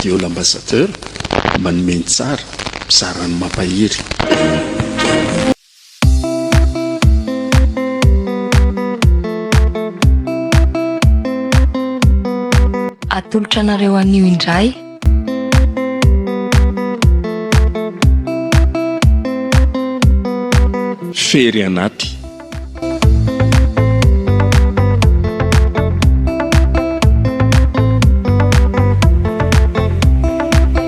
radio l'ambassadeur manome ny tsara mizara ny mampahery Atolotra anareo anio indray. Fery anaty.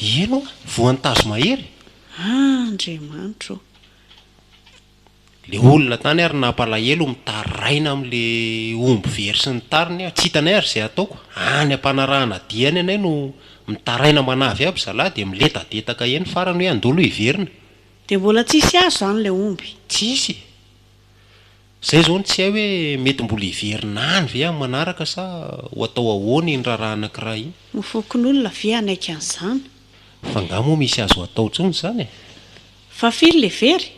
Ino oa? Voan'ny tazomahery? Ah Andriamanitro ô! Le olona tany ary nampalahelo mitaraina amle omby very sy ny tariny ah, tsy hitanay ary zay ataoko, any ampanarahana dia any anay no mitaraina manavy aby zalahy dia miledadedaka eny farany hoe andolo hiverina. Dia mbola tsisy azo zany le omby? Tsisy e! Zay zao no tsy hay hoe mety mbola hiverina any ve amin'ny manaraka sa ho atao ahoana iny raharaha anankiray iny. Ny fokonolona ve hanaiky an'izany? Fa nga moa misy azo atao intsony izany e? Fa firy le very?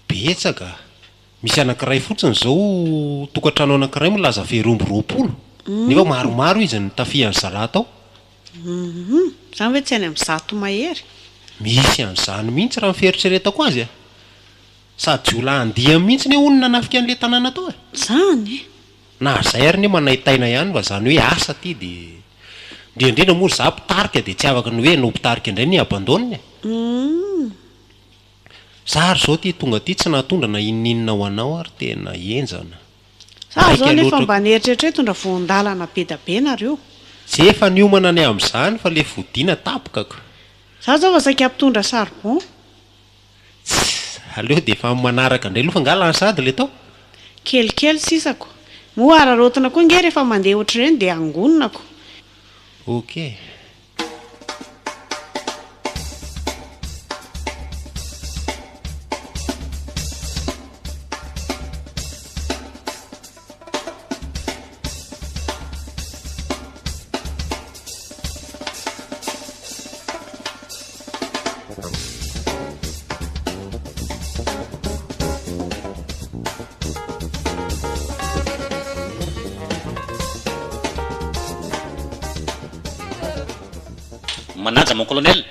Betsaka, misy anankiray fotsiny zao tokantrano anankiray milaza very omby roapolo, nefa maromaro izy no nitafihan'ny zalahy tao. Humm, izany ve tsy any amin'ny zato mahery? Misy an'izany mihitsy raha ny fieritreretako azy e! Sady jiolahy andiany mihitsy anie hono nanafika an'le tanàna tao e! Zany e! Na ary zay ary anie manaintaina ihany fa zany hoe asa aty de. Indrindra indrindra moa ry za mpitarika de tsy afaka ny hoe anao mpitarika indray no hi-abandonne e! Humm. Za ary zao ty tonga aty tsy nahatondra na inoninona ho anao ary tena henjana. Za zao nefa mba nieritreritra hoe hitondra voan-dalana be da be nareo. Tsy efa niomana ny amzany fa le fodiana tapkaka. Za zao fa saika mpitondra charbon. Tss! Aleo dia efa manaraka indray loha angaha lany sahady ilay tao? Kelikely sisa ko! Moa hararaotina koa ange rehefa mandeha ohatr'ireny dia angonina ko! Ok. Manaja mon colonel!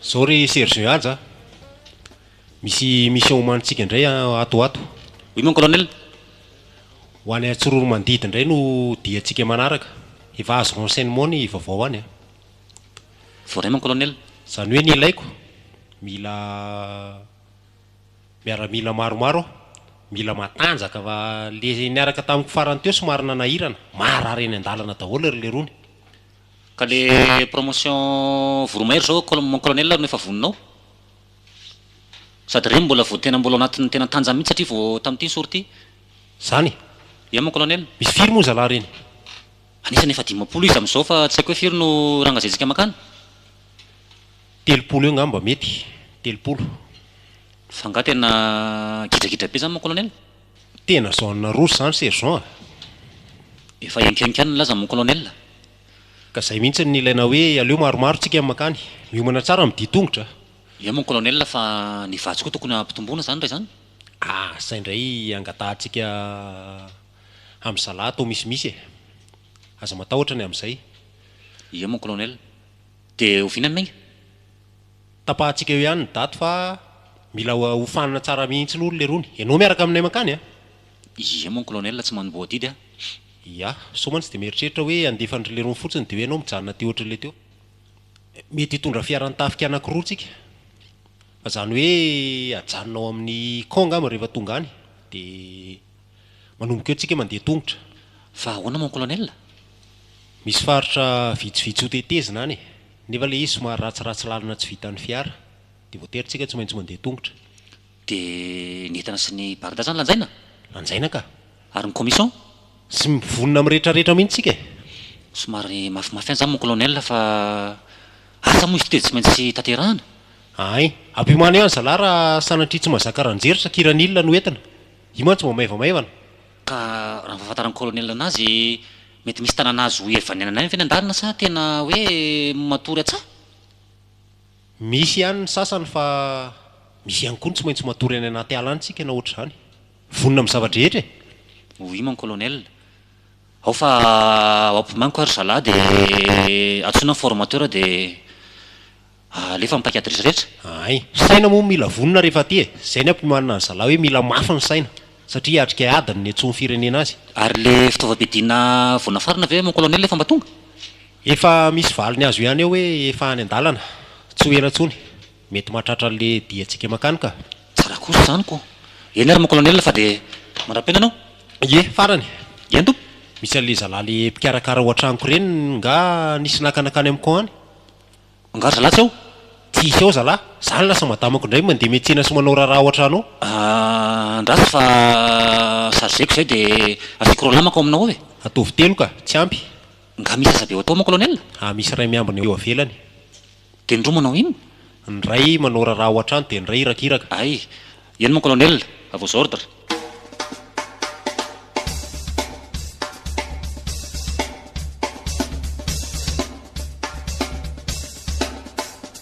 Zao ry Serge Haja a! Misy mission omanintsika indray ato ato. Oui mon colonel. Ho any Antsorohoromandidy indray no diantsika manaraka. Efa azo renseignement ny vaovao any a. Voaray mon colonel. Izany hoe ny ilaiko, mila miaramila maromaro aho, mila matanjaka fa le niaraka tamiko farany teo somary nanahirana, marary eny an-dalana daholo ry lerony. Ka le promotion voromahery zao mon colonel no efa voninao? Sady reny mbola vao tena mbola ao anatin'ny tena tanjany mihitsy satria vao tamin'ity ny sortie. Zany e! Ia mon colonel? Misy firy moa zalahy reny? Anisany efa dimampolo izy amin'izao fa tsy haiko hoe firy no rangazentsika makany? Telopolo eo ngamba mety, telopolo. F'angaha tena gidragidra be zany mon colonel? Tena zone rouge zany sergent a! Efa henkihenky ihany ny laza mon colonel. Ka zay mihintsy no nilaina hoe aleo maromaro tsika mankany. Miomana tsara midia tongotra. Eo mon colonel fa ny vatsy koa tokony ampitomboina zany ndray zany? Ah, zay ndray angatahantsika hamizalahy atao misimisy e! Aza matahotra ny amizay. Ie mon colonel. De oviana Megna? Tapahantsika eo ihany ny daty fa mila hofanina tsara mihintsy aloha ry lerony. Ianao miaraka aminay mankany a! Ie mon colonel tsy manomboha didy a! Yah, sao mantsy dia mieritreritra hoe handefa an'dry leirony fotsiny dia hoe ianao mijanona aty ohatrin'ilay teo. Mety hitondra fiaran'ny tafika anankiroa tsika. Fa izany hoe ajanona ao amin'ny camp angamba rehefa tonga any. Dia manomboka eo tsika mandeha tongotra. Fa ahoana mon colonel? Misy faritra vitsivitsy hotetezina any e! Nefa ilay izy somary ratsiratsy lalana tsy vitan'ny fiara. Dia voatery tsika tsy maintsy mandeha tongotra. Dia ny entana sy ny barda zany lanjaina? Lanjaina ka. Ary ny commission? Tsy mivonona amin'ny retraretra mihitsy tsika e. Somary mafimafy ihany zany mon colonel fa asa moa izy ity dia tsy maintsy tanterahana. Ahay. Ampimano ihany zalah raha sanatria tsy mahazaka ranjery sa kiranil no entina. Io mantsy mba maivamaivana. Ka raha ny fahafantaran'ny colonel anazy, mety misy tanàna azo ihavanianana ihany ve ny andarana sa tena hoe matory atsaha? Misy ihany ny sasany fa misy ihany koa ny tsy maintsy matory any anaty ala any tsika na ohatr'izany. Vonona amin'ny zava-drehetra e! Oui mon colonel. Ao fa ao ampimaniko ary zalahy dia antsoina ny formateur dia alefa amin'ny paika adresy rehetra. Ahay. Saina moa mila vonona rehefa aty e! Izay ny ampimanina ny zalahy hoe mila mafy ny saina satria hiatrika ady ny niantsoan'ny firenena azy. Ary ilay fitaovam-piadiana voanafarana ve mon colonel efa mba tonga? Efa misy valiny azo ihany eo hoe efa any an-dalana, tsy ho ela intsony, mety mahatratra an'le diantsika mankany ka. Tsara kosa izany ko. Eny ary mon colonel fa dia mandra-piaina anao. Ie, farany. Ie an tompo. Misy an'le zalahy le mpikarakara ao an-tranoko ireny nga nisy naka nankany amin'ny camp any? Nga ry zalahy tsy ao? Tsy hisy ao zalahy. Za no lasa madamako indray mandeha miantsena sy manao raharaha ao an-trano ao. Ahh, andraso fa chargeko izay dia asiako roa lamaka ao aminao ao e. Ataovy telo ka, tsy ampy. Nga misy asa be ho atao moa Colonel? Aa misy iray miambina eo avelany. Dia ny roa manao inona? Ny iray manao raharaha ao an-trano dia ny iray irakiraka. Ay, eny mon Colonel, à vos ordres.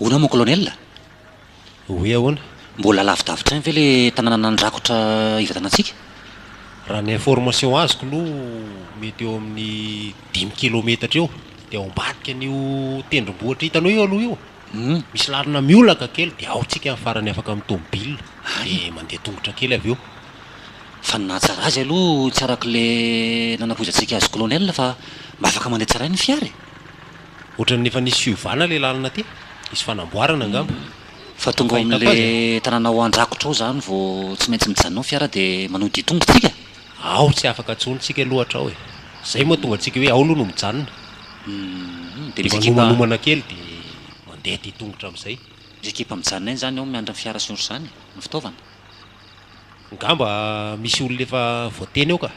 Hono aho mon colonel? Oui ahoana? Mbola lavidavitra any ve le tananana andrakotra hivatanantsika? Raha ny information azoko aloha mety eo amin'ny dimy kilometatra eo dia ao ambadika an'io tendrombohitra hitanao io aloha io misy lalana miolaka kely dia ao tsika ny farany afaka amin'ny tomobile dia mandeha tongotra kely avy eo. Fa ny nahatsara azy aloha tsy arak'ilay nanapoizantsika azy colonel fa mba afaka mandeha tsara ihany ny fiara e! Ohatran'ny efa nisy fiovana le lalana aty, hisy fanamboarana angamba. Fa tonga ao amin'le tanàna ao Andrakotra ao zany vao tsy maintsy mijanona ao fiara de manody tongotra tsika? Ao tsy afaka intsony tsika aloha atra ao e! Zay moa tonga antsika hoe ao aloha no mijanona. Uhm, de misy ekipa. De manomanomana kely de mandeha aty tongotra amzay. Misy ekipa mijanona eny zany ao miandry ny fiara sy ny otr'zany e! Ny fitaovana. Ngamba misy olona efa voateny ao ka!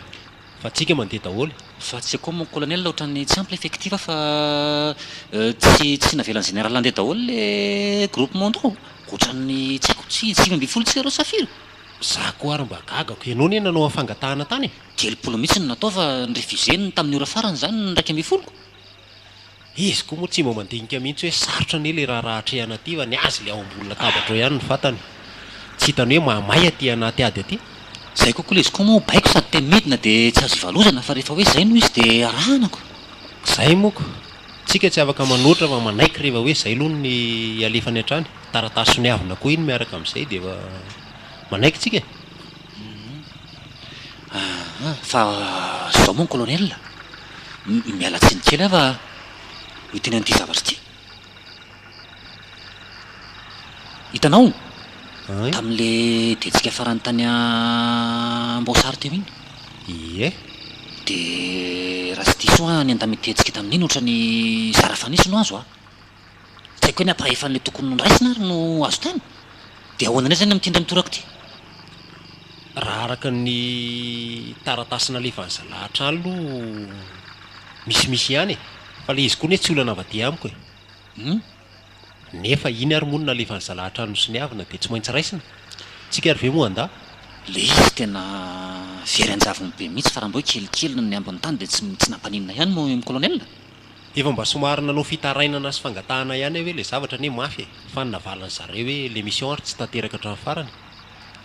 Fa tsika mandeha daholo. Fa tsy akoho mon colonel otrany tsy ampy le effectif fa tsy tsy navelan'ny général handeha daholo le groupe mondro otrany tsy aiko tsy dimy ambin'ny folo tsy zéro safira? Za koa ary mba gagako, ianao anie nanao afangatahana tany e! Telopolo mihitsy no natao fa ny refusé ny tamin'ny ora farany zany ny iraika ambin'ny folo. Izy koa moa tsy mba mandinika mihitsy hoe sarotra anie ilay raharaha atrehana aty fa ny azy ilay ao ambony latabatra ao ihany ny vatany. Tsy hitany hoe mahamay aty anaty ady aty. Izay kokoa ilay izy koa moa baiko sady te midina dia tsy azo ivalozana fa rehefa hoe izay no izy dia arahanako. Izay moka. Tsika tsy afaka manoatra fa manaiky rehefa hoe izay aloha ny ialefany hatrany. Taratasy soniavina koa iny miaraka amin'izay dia efa manaiky tsika e. Ahaa, fa zao moa ny kolonely? Miala tsiny kely aho fa hiteny an'ity zavatra ity. Hitanao? Tamin'ilay diantsika farany tany Amboasary teo iny. Ie. Dia raha tsy diso aho ny andamin-diantsika tamin'iny ohatran'ny zara fanisy no azo a. Tsy haiko hoe ny ampahaefany tokony noraisina ary no azo tany? Dia ahoana indray izany amin'ity indray mitoraka ity? Raha araka ny taratasy nalefan'i Zalahatr'A aloha misimisy ihany e! Fa ilay izy koa anie tsy olona navadiha amiko e! Hum! Nefa iny ary moa no nalefan'i Zalahatr'A nosoniavina dia tsy maintsy raisina? Tsika ary ve moa an-dà? Ilay izy tena very an-javony be mihitsy fa raha mba hoe kelikely ny ambin'ny tany dia tsy tsy nampaninona ihany moa i Colonel? Efa mba somary nanao fitarainana sy fangatahana ihany aho hoe ilay zavatra anie mafy e! Fa ny navalin'ny zareo hoe ilay mission ary tsy tanteraka hatramin'ny farany.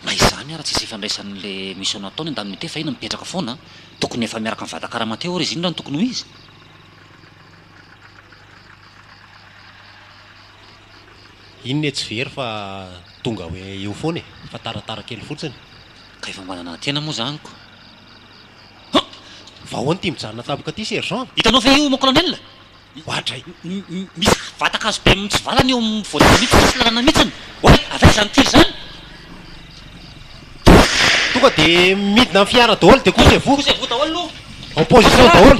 Na izany ary tsisy ifandraisany ilay mission nataony an-daniny ity fa iny mipetraka foana an! Tokony efa miaraka amin'i Vadakarama teo ary izy iny raha ny tokony ho izy. Iny ne tsy very fa tonga hoe eo foana e! Fa taratara kely fotsiny. Ka efa manana tena moa izany ko! Hum! Vahoana ity mijanona tampoka ity sergent. Hitanao ve io mon colonel? Oa dray. Misy vatan-kazo be mitsivalana eo amin'ny voadidina io, tsy misy lalana mihitsy. Oay! Avy aiza izany tir izany? Tonga dia midina amin'ny fiara daholo dia couche-vous. Couche-vous daholo aloha. En position daholo.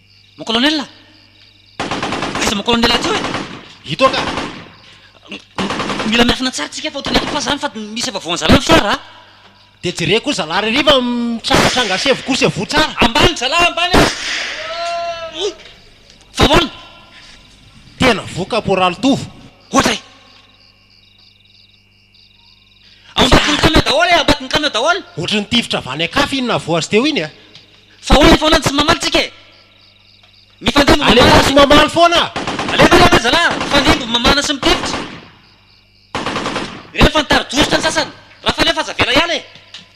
Mon colonel! Aiza mon colonel aty io e? Ito ka! Mila miafina tsara tsika fa otrany efa fa zany fa misy efa voan'zalahy ny fiara a! Dia jereo koa zalahy ry riva mitrangatranga sevo koa sevo tsara! Ambany zalahy ambany a! Oy! Fa ahoana? Tena voa kaporaly Tovo! Ohatra e! Ao ambatin'ny kanina daholo e, ao ambatin'ny kanina daholo. Ohatran'ny tifitra avy any an-kafa iny navoazy teo iny a! Fa hono foana ny tsy mamaly tsika e! Mifandimby mamana sy. Alefaso sy mamaly foana! Alefa alefa ry zalahy! Mifandimby ny mamana sy mitifitra! Ireny fa nitari-dositra ny sasany! Raha falefa aza avela hiala e!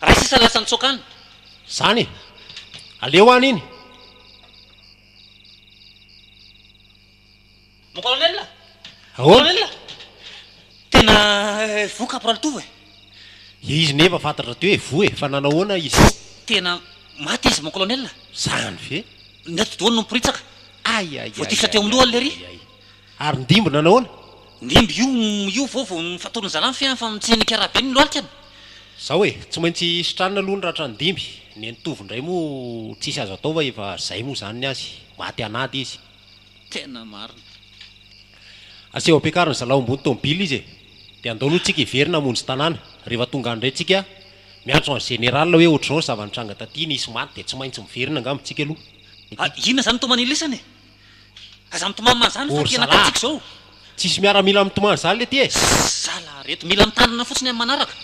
Ray sisa lasa nitsoaka any. Zany e! Aleo any iny. Mon colonel a! Ahoana? Colonel a! Tena voa caporal Tovo e! Dia izy nefa fantatra teo e, voa e, fa nanao ahoana izy? Tena maty izy mon colonel a! Zany ve? Ny atidohany no miporitsaka. Ay ay ay. Voatifitra teo amin'ny lohany lery. Ay ay ay. Ary ny dimby nanao ahoana? Ny dimby io io vao vao nifatory ny zalany fe fa mitsenika raha be ny lohalika ny. Zao e, tsy maintsy sitranina aloha ny ratra ny dimby, ny an'i Tovo indray moa tsisy azo atao fa efa zay moa zany ny azy, maty an'ady izy. Tena marina. Aseho ampiakariny zalaho ambony tomobila izy e, de andao aloha tsika hiverina hamonjy tanàna, rehefa tonga any indray tsika miantso an'i Général hoe ohatrizao ny zava-nitranga taty, nisy maty de tsy maintsy miverina angamba tsika aloha. Ah, inona zany toa manilisana e? Aza mitomany manzany fa tena katsiko zao. Tsisy miaramila mitomany zany lety e. Zala reto mila mitandrina fotsiny amin'ny manaraka.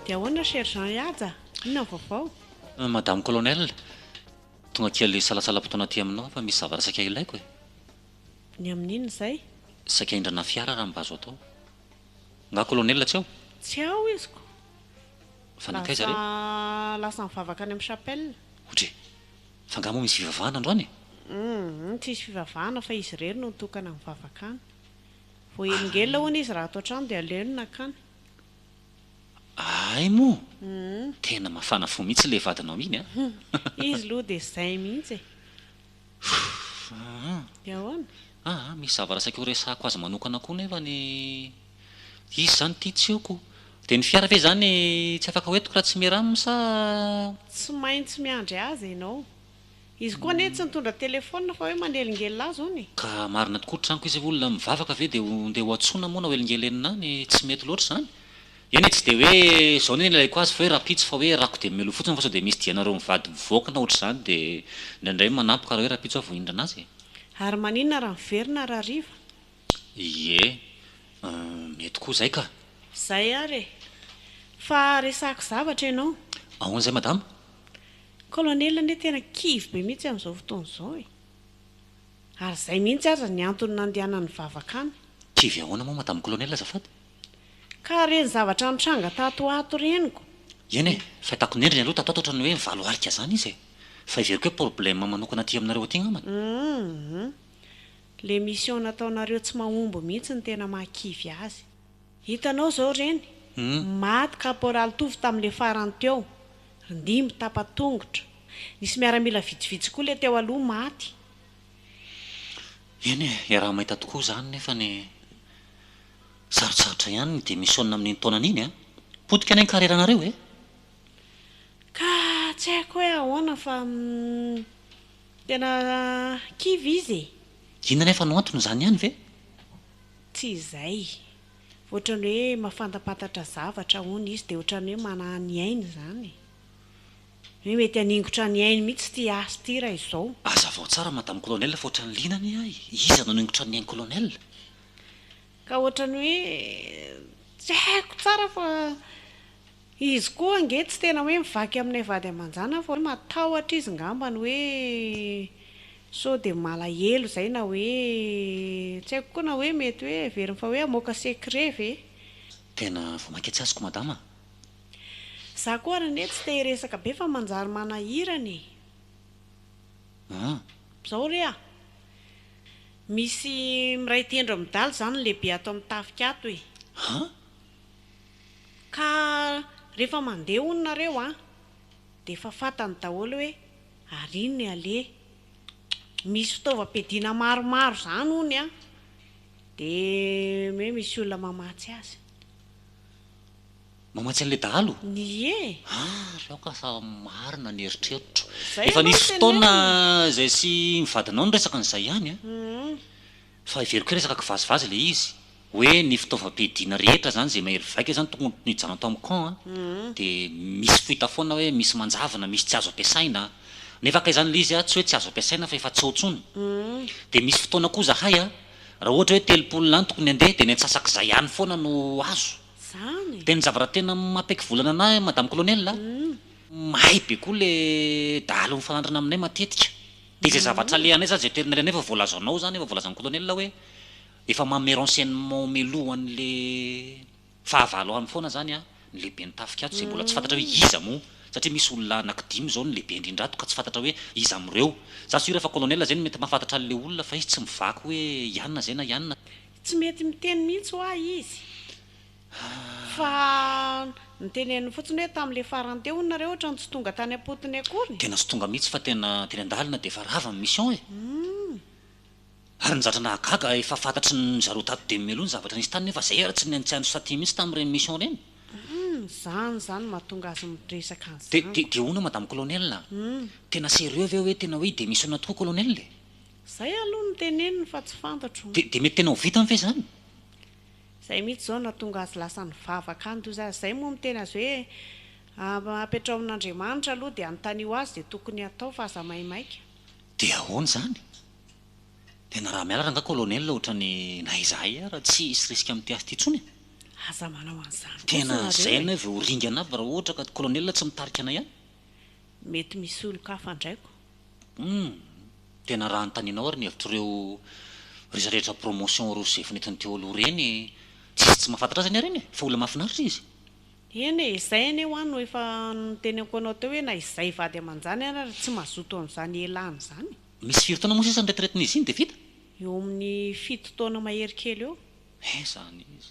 Dia ahoana Sergent Ihaja? Inona ny vaovao? Madame Colonel, tonga kely salatsalam-potoana aty aminao aho fa misy zavatra saika ilaiko e! Ny amin'inona izay? Saika hindrana fiara raha mba azo atao. Nga colonel tsy ao? Tsy ao izy ko. Fa nankaiza re? Lasa lasa nivavaka any am chapelle. Odry. Fa nga moa misy fivavahana androany e? Humm tsisy fivavahana fa izy irery no nitokana nivavaka any. Voahelingelina hono izy raha ato an-trano dia aleo ny nankany. Ahay moa Humm. Tena mafana fo mihitsy le vadinao iny a. Humm izy loha dia zay mihitsy e. Fff Ahoana? Aa misy zavatra saika ho resahako azy manokana koa nefa ny izy izany tia tsy oko. Dia ny fiara ve izany tsy afaka hoentiko raha tsy miram sa? Tsy maintsy miandry azy ianao. Izy koa anie tsy nitondra telefaonina fa hoe manelingelina azy hono e. Ka marina tokoa, tranoko izy, olona mivavaka ve dia ho ndeha ho antsoina moa na hoelingelenina any, tsy mety loatra izany? Eny e, tsy dia hoe izao ny nilaiko azy fa hoe rahampitso fa hoe rako dia melo fotsiny fa sao dia misy dianareo mivady mivoaka na ohatr'izany dia indraindray manampy ka raha hoe rahampitso aho vao hindrana azy e. Ary maninona raha miverina raha hariva? Ie, mety koa izay ka. Izay ary e. Fa resahako zavatra ianao. Ahoana izay madama? Colonel anie tena kivy be mihitsy amin'izao fotoana izao e. Ary izay mihitsy aza ny antony nandehanany nivavaka any. Kivy ahoana moa madama colonel azafady? Ka ireny zavatra nitranga tato ho ato reniko. Eny e, fahitako ny endriny aloha tato ho ato ohatran'ny hoe mivalo arika izany izy e. Fa heveriko hoe problème manokana aty aminareo aty angambany. Humm. Le mission nataonareo tsy mahomby mihitsy no tena mahakivy azy. Hitanao izao reny, maty caporal Tovo tamin'ilay farany teo, ry Ndimby tapa-tongotra. Nisy miaramila vitsivitsy koa ilay teo aloha maty. Eny e, iaraha-mahita tokoa izany nefany e. Sarotsarotra ihany ny demissionina amin'iny taonany iny an! Potika anie ny karieranareo e! Ka tsy haiko hoe ahoana fa tena kivy izy e! Inona anefa no antony, izany ihany ve? Tsy izay. Ohatrany hoe mahafantampantatra zavatra hono izy dia ohatrany hoe manahy ny ainy izany. Hoe mety haningotra ny ainy mihitsy ity hasy ity raha izao. Hazavao tsara Madame Colonel fa ohatrany liana anie ahy, iza no haningotra ny ain-Colonel? Ka ohatran'ny hoe tsy haiko tsara fa izy koa ange tsy tena hoe mivaky aminay vady aman-janany fa hoe matahotra izy ngambany hoe sao dia malahelo izay na hoe tsy haiko koa na hoe mety hoe heveriny fa hoe hamoaka secret ve? Tena vao mainka tsy azoko madama a! Za koa ary anie tsy te hiresaka be fa manjary manahirana e! An! Zao re a! Misy miray tendro amin'ny daly izany lehibe ato amin'ny tafika ato e! An! Ka rehefa mandeha hono nareo an! Dia efa fatany daholo hoe ary iny ny aleha! Misy fitaovam-piadiana maromaro izany hono an! Dia hoe misy olona mamatsy azy. Mamatsy an'ilay dahalo? Ie e! Ah, ry aoka fa marina ny eritreritro. Zay Efa ianao no nisy fotoana tenenina. izay sy ny vadinao niresaka an'izay ihany an! Hum. Fa heveriko hoe resaka kivazivazy ilay izy. Hoe ny fitaovam-piadiana rehetra izany izay mahery vaika izany tokony ho nijanona tao amin'ny camp an! Hum. Dia misy foita foana hoe misy manjavona, misy tsy azo ampiasaina. Nefa kay izany ilay izy an, tsy hoe tsy azo ampiasaina fa efa tsy ao intsony. Hum. Dia misy fotoana koa izahay an, raha ohatra hoe telopolo lahy no tokony handeha dia ny antsasak'izay ihany foana no azo. zany e! De ny zavatra tena mapeky volana anah madame colonel a, mahay be koa le dahalo mifanandrina aminay matetika, de izay zavatra alehanay zany, izay toerana alehanay efa voalazanao zany, efa voalazan'ny colonel hoe efa manome renseignement meloha an'le fahavalo any foana zany a, ny lehiben'ny tafika ato, izay mbola tsy fantatra hoe iza moa, satria misy olona anaky dimy zao ny lehibe indrindra ato ka tsy fantatra hoe iza am'ireo, za sure fa colonel zay no mety mahafantatra an'le olona fa izy tsy mivaky hoe ianona zay na ianona, Tsy mety miteny mihitsy hoa izy fa noteneniny fotsiny hoe tamin'ilay farany teo hono nareo ohatrany tsy tonga tany am-potony akory. Tena tsy tonga mihitsy fa tena teny an-dalana dia efa rava ny mission e! Ary nizatra nahagaga efa fantatry ny zareo tato dia mialoha ny zavatra nisy tany nefa zay ary tsy nihaino tsy nihaino satia mihitsy tamin'ireny mission ireny. Zany zany mahatonga azy miresaka an'izany. Dia hono madame colonel a! Tena sérieux ve hoe tena hoe hi-démissionner tokoa colonel e? Zay aloha no teneniny fa tsy fantatro. Dia dia mety tena ho vitany ve izany? Zay mihitsy izao no nahatonga azy lasa nivavaka any toy izany. Zay moa miteny azy hoe apetraho amin'Andriamanitra aloha dia anontanio azy izay tokony hatao fa aza maimaika. Dia ahoana izany? Tena raha mianatra angaha Colonel ohatran'ny na izahay ara tsy hisy risque amin'ity asa ity intsony e! Aza manao an'izany kosa nareo e! Tena zay anay vao ho ringana aby raha ohatra ka Colonel tsy mitarika anay any. Mety misy olon-kafa andraiko. Humm! Tena raha anontanianao ary ny hevitr'ireo ry zareo rehetra promotion roa sy efiny eto ny Teolo ireny, tsisy tsy mahafantatra azy anie ireny e! Fa olona mahafinaritra izy. Eny e, izay anie hoa no efa notenenko anao teo hoe na izay vady aman-jany ary ary tsy mazoto an'izany elany izany e! Misy firy taona moa sisa niretraretin'izy iny dia vita? Eo amin'ny fito taona mahery kely eo. He, izany izy.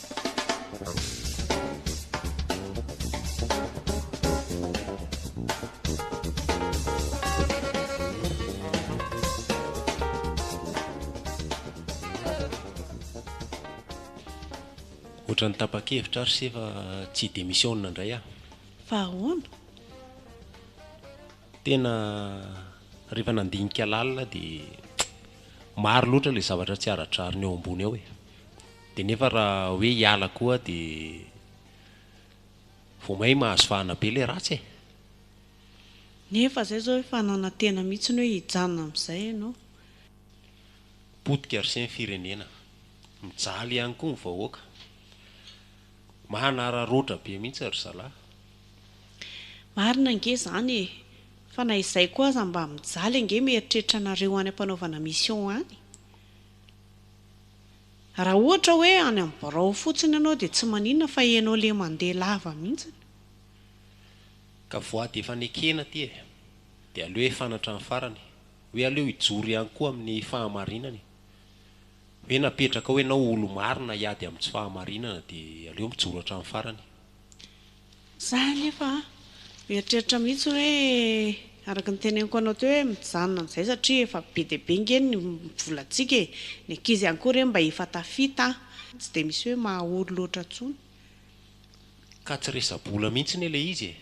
Ohatran'ny tapa-kevitra ary se fa tsy hi-demissionne indray aho. Fa ahoana? Tena rehefa nandinika lalina aho dia maro loatra ilay zavatra tsy ara-drariny eo ambony ao e. Dia nefa raha hoe hiala koa dia vao may mahazo fahana be ilay ratsy e! Nefa izay izao efa nanantena mihitsy ny hoe hijanona amin'izay ianao. Potika r'se ny firenena. Mijaly ihany koa ny vahoaka. Mahanararaotra be mihitsy ry zalahy. Marina ange izany e! Fa na izay koa aza mba mijaly ange mieritreritra anareo any ampanaovana mission any. Raha ohatra hoe any amin'ny birao fotsiny ianao dia tsy maninona fa ianao le mandeha lava mihintsiny. Ka voady efa nekena aty e. Dia aleo efa anatran'ny farany. Hoe aleo hijoro ihany koa amin'ny fahamarinany. Hoe napetraka ao ianao olo-marina hiady amin'ny tsy fahamarinana dia aleo mijoro hatramin'ny farany. Za anefa a, mieritreritra mihitsy hoe araka ny teneniko anao teo hoe mijanona amin'izay satria efa be dia be ange ny volantsika e, ny ankizy ihany koa re mba efa tafita a, tsy dia misy hoe mahaory loatra intsony. Ka tsy resa-bola mihitsy anie ilay izy e!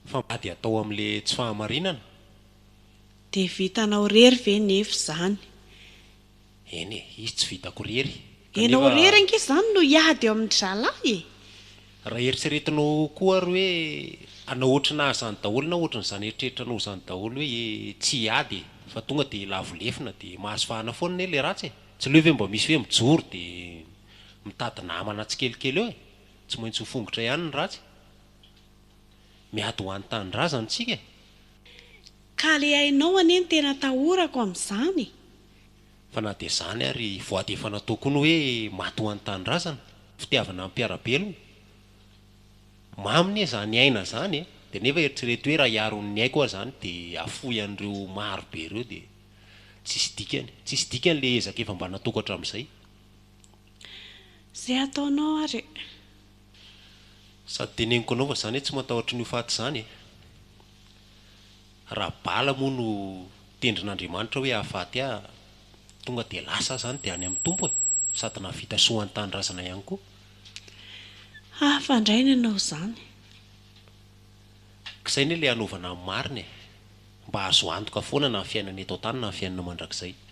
Fa mba dia atao amin'ilay tsy fahamarinana? Dia vitanao irery ve nefa izany? Eny e, izy tsy vitako rery. Enao irery ange izany no hiady eo amin'ny dralahy e! Raha eritreretinao koa ary hoe hanao ohatranà izany daholo na ohatran'izany eritreritranao izany daholo hoe e, tsy hiady e, fa tonga dia lavo lefona dia mahazo vahana foana anie ilay ratsy e! Tsy aleo ve mba misy hoe mijoro dia mitady namana tsikelikely eo e! Tsy maintsy ho fongotra ihany ny ratsy. Miady ho an'ny tanindrazana isika e! Ka ilay ainao anie no tena atahorako amin'izany e! Fa na dia izany ary, voady efa natao koa ny hoe maty ho an'ny tanindrazana, fitiavana ny mpiara-belona. Mamy anie izany aina izany e! Dia nefa eritrereto hoe raha hiaro ny aiko aho izany dia hafoy an'ireo maro be ireo dia tsisy dikany. Tsisy dikany ilay ezaka efa mba nataoko hatramin'izay. Izay ataonao ary e! Sady teneniko anao fa izany e, tsy matahotra an'io faty izany e! Raha bala moa no tendrin'Andriamanitra hoe hahafaty ahy, tonga dia lasa aho izany dia any amin'ny Tompo e! Sady nahavita soa an-tanindrazana ihany koa. Hafa indray ny hanao izany. Ka izay anie ilay hanaovana ny marina e! Mba azo antoka foana na ny fiainana eto an-tany na ny fiainana mandrakizay.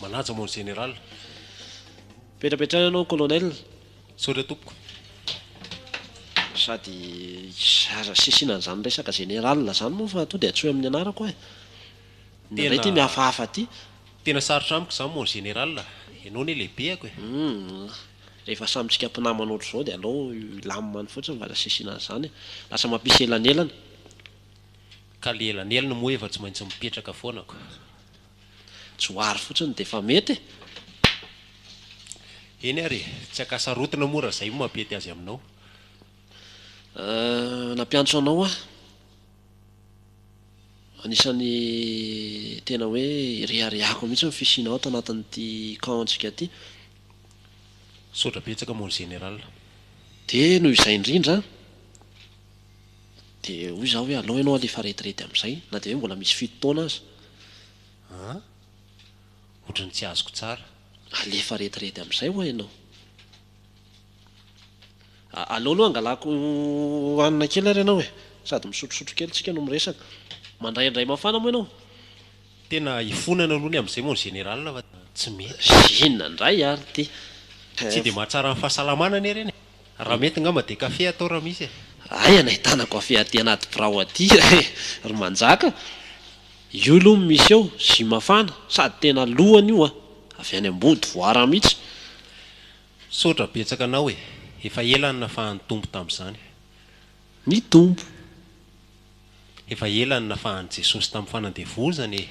Manaja mon général. Petrapetraha ianao colonel. Misaotra tompoko. Sady aza asisiana an'izany resaka général izany moa fa toa dia antsoy amin'ny anarako aho e. Ny indray ity mihafahafa ity. Tena sarotra amiko izany mon général a! Ianao anie lehibehako e! Humm, rehefa samy tsika mpinamana ohatr'izao dia aleo hilamina fotsiny fa aza asiasiana an'izany e! Lasa mampisy elanelana. Ka le elanelana moa efa tsy maintsy mipetraka foana ko! Johary fotsiny dia efa mety e! Eny ary e! Tsy ankasarotina moa raha izay no mampety azy aminao. Ahh, nampiantso anao aho. Anisan'ny tena hoe ireharehako mihitsy ny fisianao ato anatin'ity camp-ntsika ity. Misaotra betsaka mon général. Dia noho izay indrindra dia hoy izaho hoe aleo ianao alefa retraite amin'izay na dia hoe mbola misy fito taona aza. An? Ohatran'ny tsy azoko tsara. Alefa retraite amin'izay ho'a ianao. Aleo aloha hangalako hanina kely ary ianao e! Sady misotrosotro kely tsika no miresaka. Mandray indray mafana moa ianao? Tena hifonana aloha ny amin'izay mon général fa tsy mety. Inona indray ary ity eh! Tsy dia mahatsara ny fahasalamana anie ireny e! Raha mety angamba dia kafe atao raha misy e! Aia no ahitana kafe aty anaty birao aty eh! Ry Manjaka! Io aloha no misy eo, jus mafana, sady tena lohany io an! Avy any Ambodivoara mihitsy. Misaotra betsaka anao e! Efa ela ny nafahan'ny Tompo tamin'izany. Ny Tompo. Efa ela ny nafahan'i Jesosy tamin'ny fanandevozana e!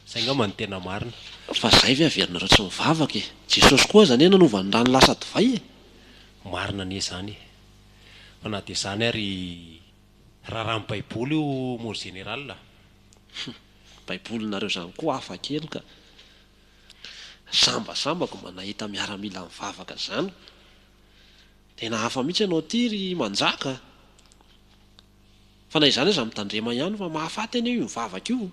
Zay ngamba no tena marina. Fa zay ve averinareo tsy mivavaka e! Jesosy koa aza anie nanova ny rano lasa divay e! Marina anie zany e! Fa na dia zany ary raràn'ny baiboly io mon général a! Hum! Baibolinareo zany koa hafa kely ka! Sambasambako mba nahita miaramila mivavaka zany. Tena hafa mihitsy ianao ity ry Manjaka a! Fa na izany aza mitandrema ihany fa mahafaty anie io mivavaka io.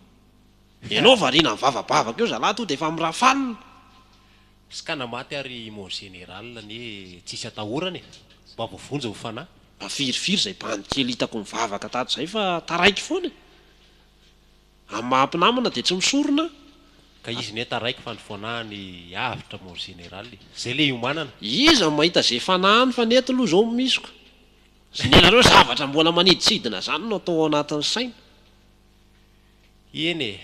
Ianao variana mivavabavaka eo zalahy tonga dia efa mirafalina. Ska na maty ary mon général anie tsisy atahorana e! Mba voavonjy ny fanahy. Mba firifiry izay bandy kely hitako nivavaka tato izay fa taraiky foana e! Amin'ny maha mpinamana dia tsy misorona ka izy ne taraiky fa ny fanahiny avotra mon général e! Zay le iomanana. Iza no mahita ze fanahiny fa ny eto loha zao misy ko sy nenareo zavatra mbola maniditsidina zany no atao ao anatin'ny saina. Eny e,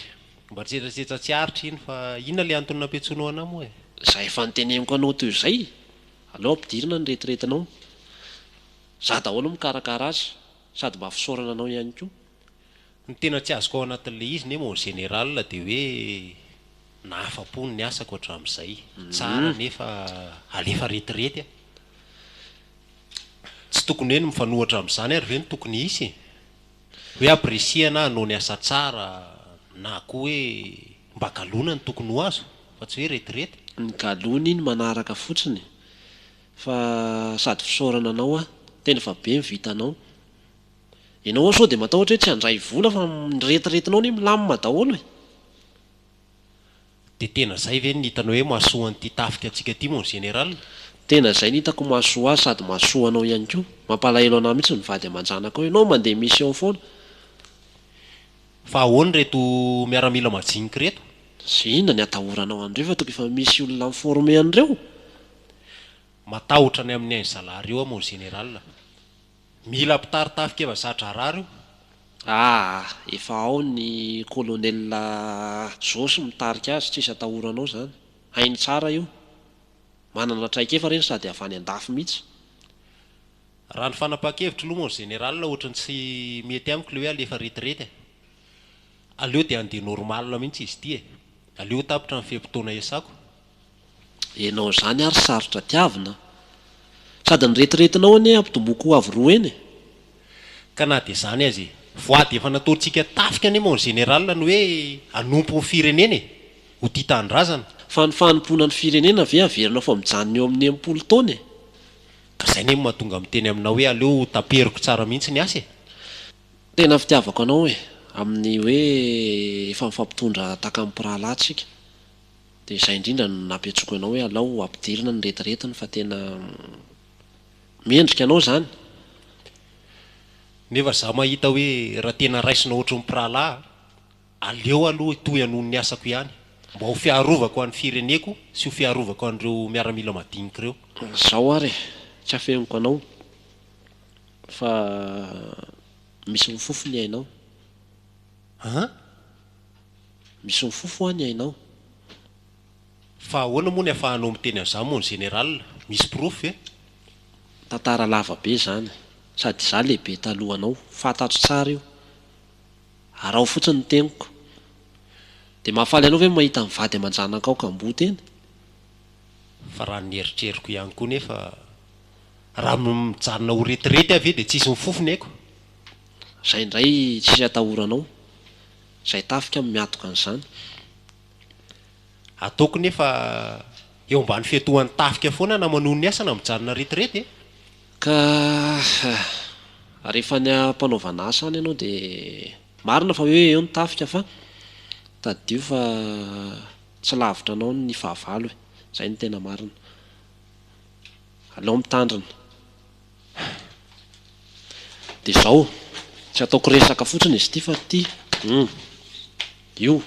mba tsetsatsetsa tsy aritra iny fa inona le antony nampiantsoinao anah moa e? Za efa niteneniko anao teo zay, aleo ampidirina ny retiretinao, za daholo mikarakara azy, sady mba fisaorana anao ihany koa. Ny tena tsy azoko ao anatin'ilay izy neh mon général dia hoe nahafapo ny asako hatramin'izay. Tsara nefa alefa retirety a! Tsy tokony hoe ny mifanohitra amin'izany ary ve no tokony hisy e? Hoe apprécier na hanao ny asa tsara na koa hoe mba galona no tokony ho azo fa tsy hoe retirety. Ny galona iny manaraka fotsiny fa sady fisaorana anao aho tena efa be ny vitanao. Ianao ao sao dia matahotra hoe tsy handray vola fa ny retiretinao anie milamina daholo e! Dia tena izay ve no hitanao hoe mahasoa an'ity tafika antsika ity mon général? Tena izay no hitako mahasoa azy sady mahasoa anao ihany koa. Mampalahelo anah mihitsy ny vady aman-janakao. Ianao mandeha mission foana. Fa ahoana ireto miaramila majinika ireto? Ze inona ny atahoranao an'ireo fa toby efa misy olona mi-former an'ireo? Matahotra ny amin'ain zalahy reo aho mon général. Mila mpitari tafikeva za-draharaha reo aa efa ao ny colonel Josy mitarika azy tsisy atahoranao zany hainy tsara io manana traikefa reny sady avy any andafy mitsy. Raha ny fanapahan-kevitro loha moa ny général ohatry ny tsy mety amiko le hoe alefa retirety e! Aleo dia andeha normal mihitsy izy ity e! Aleo ho tapitra ny fe-potoana iasako. Enao zany ary sarotra tiavina a! Sady ny retiretinao anie ampitomboiko ho avo roa eny e! Ka na dia zany aza e! Voady efa nataontsika tafika anie mon général ny hoe hanompo ny firenena e! Ho tia tanindrazana. Fa ny fanompoana ny firenena ve averinao fa mijanona eo amin'ny enimpolo taona e! Ka zay anie no mahatonga miteny aminao hoe aleo ho taperiko tsara mihitsy ny asa e! Tena fitiavako anao e! Amin'ny hoe efa mifampitondra takan'ny mpirahalahy tsika dia izay indrindra no nampiantsoako anao hoe alao ampidirina ny retiretiny fa tena mendrika anao izany. Nefa za mahita hoe raha tena raisina ohatry ny mpirahalahy aleo aloha hitohy hanohy ny asako ihany mba ho fiarovako an'ny fireneko sy ho fiarovako an'ireo miaramila madinika ireo. Izao ary e! Tsy afeniko anao. Fa misy mifofo ny ainao. An? Misy mifofo hoa ny ainao. Fa ahoana moa ny afahanao miteny an'izany mon général? Misy porofo ve? Tantara lava be izany. Sady izaho lehibe talohanao. Fantatro tsara io. Araho fotsiny ny teniko. Dia mahafaly anao ve ny mahita ny vady aman-janakao kamboty eny? Fa raha ny eritreriko ihany koa nefa. Raha mijanona ho retirety aho ve dia tsisy mifofo ny aiko? Izay indray tsisy atahoranao. Izay tafika no miatoka an'izany. Ataoko nefa eo ambany fiatohan'ny tafika foana na manohy ny asa na mijanona retirety e! Ka rehefa any am-panaovana asa any ianao dia marina fa hoe eo ny tafika fa tadidio fa tsy lavitra anao ny fahavalo e! Izay no tena marina. Alao mitandrina. Dia izao, tsy ataoko resaka fotsiny izy ity fa ity, humm, io,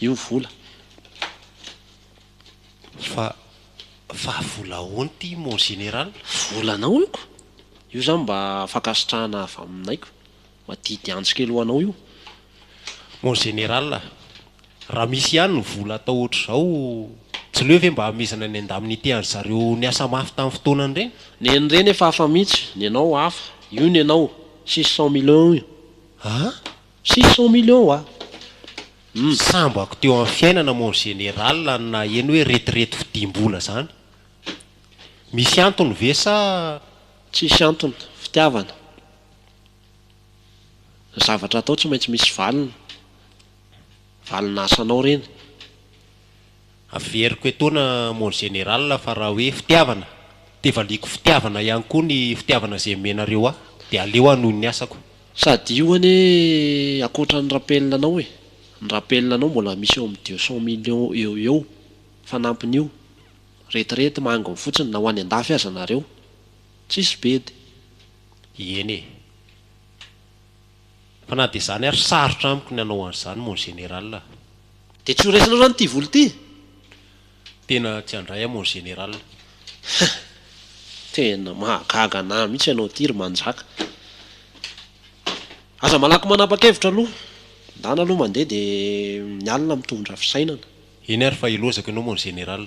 io vola. Fa, fa vola ahoana ity mon général? Volanao io ko! Io izany mba fankasitrahana avy aminay ko! Madidy antsy kely ho anao io mon général a! Raha misy ihany ny vola atao ohatr'izao, tsy leo ve mba hamezana ny indemnité an-dry zareo niasa mafy tamin'ny fotoanany ireny? Neny reny efa hafa mihitsy, ny anao hafa, io ny anao six cent millions io. An? Six cent millions wa? Hum. Sambako teo amin'ny fiainana mon général ny naheno hoe retirety fidiam-bola izany. Misy antony ve sa. Tsisy antony, fitiavana. Ny zavatra atao tsy maintsy misy valiny. Valina asanao reny. Averiko etoana mon général fa raha hoe fitiavana de valiako fitiavana ihany koa ny fitiavana izay omenareo ahy de aleo hanohy ny asako. Sady io anie akoatra ny rappel anao e, ny rappel anao mbola misy eo amin'ny deux cent millions eo ho eo, fanampin'io, retirety manginy fotsiny na ho any an-dafy aza nareo, tsisy bedy. Ieny e! Fa na dia izany ary sarotra amiko ny hanao an'izany mon général a! Dia tsy ho raisinao izany ity vola ity? Tena tsy handray aho mon général. Hein! Tena mahagaga anah mihitsy ianao ity ry manjaka. Aza malaky manapa-kevitra aloha. Ndana aloha mandeha dia ny alina mitondra fisainana. Eny ary fa hilozako ianao mon général.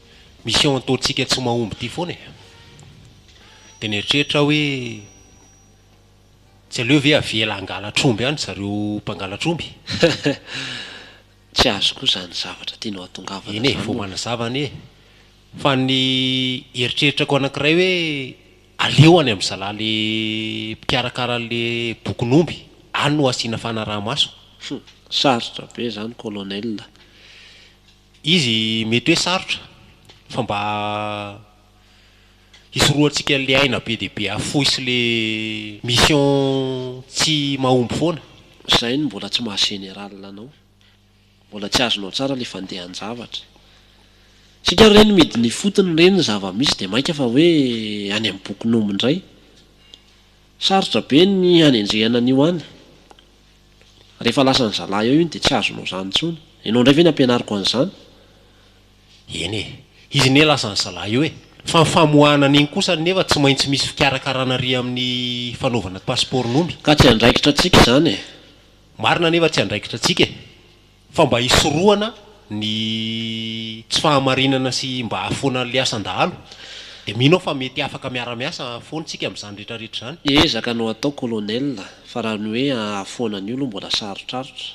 Misy ao an-taontsika tsy mahomby ity foana e! Dia nieritreritra aho hoe, tsy aleo ve avela hangalatra omby any zareo mpangalatra omby? Tsy azo koa izany zavatra tianao hatongavana izany. Eny e, vao manazava anie e! Fa ny eritreritrako anankiray hoe, aleo any amin'ny zalahy le mpikarakara an'ilay bokin'omby, any no asiana fanaraha-maso. Hum, sarotra be izany Colonel a! Izy mety hoe sarotra fa mba hisorohantsika an'ilay aina be dia be afoy sy ilay mission tsy mahomby foana. Izay no mbola tsy maha général anao. Mbola tsy azonao tsara ilay fandehan-javatra. Isika re no midina ifotony re ny zava-misy dia mainka fa hoe any amin'ny bokin'omby indray. Sarotra be ny hanenjehana an'io any. Rehefa lasan'ny zalahy eo iny dia tsy azonao izany intsony. Ianao indray ve ny hampianariko an'izany? Eny e! Izy anie lasan'ny zalahy eo e! Fa ny famoahana an'iny kosa anefa tsy maintsy misy fikarakarana ary amin'ny fanaovana pasipaoron'omby. Ka tsy andraikitra antsika izany e! Marina anefa tsy andraikitra antsika e! Fa mba hisorohana ny tsy fahamarinana sy mba hahafoana an'ilay asan-dahalo, dia mino aho fa mety afaka miara-miasa foana isika amin'izany rehetrarehetra izany. Ezaka no atao Colonel, fa raha ny hoe hahafoana an'io aloha mbola sarotrarotra.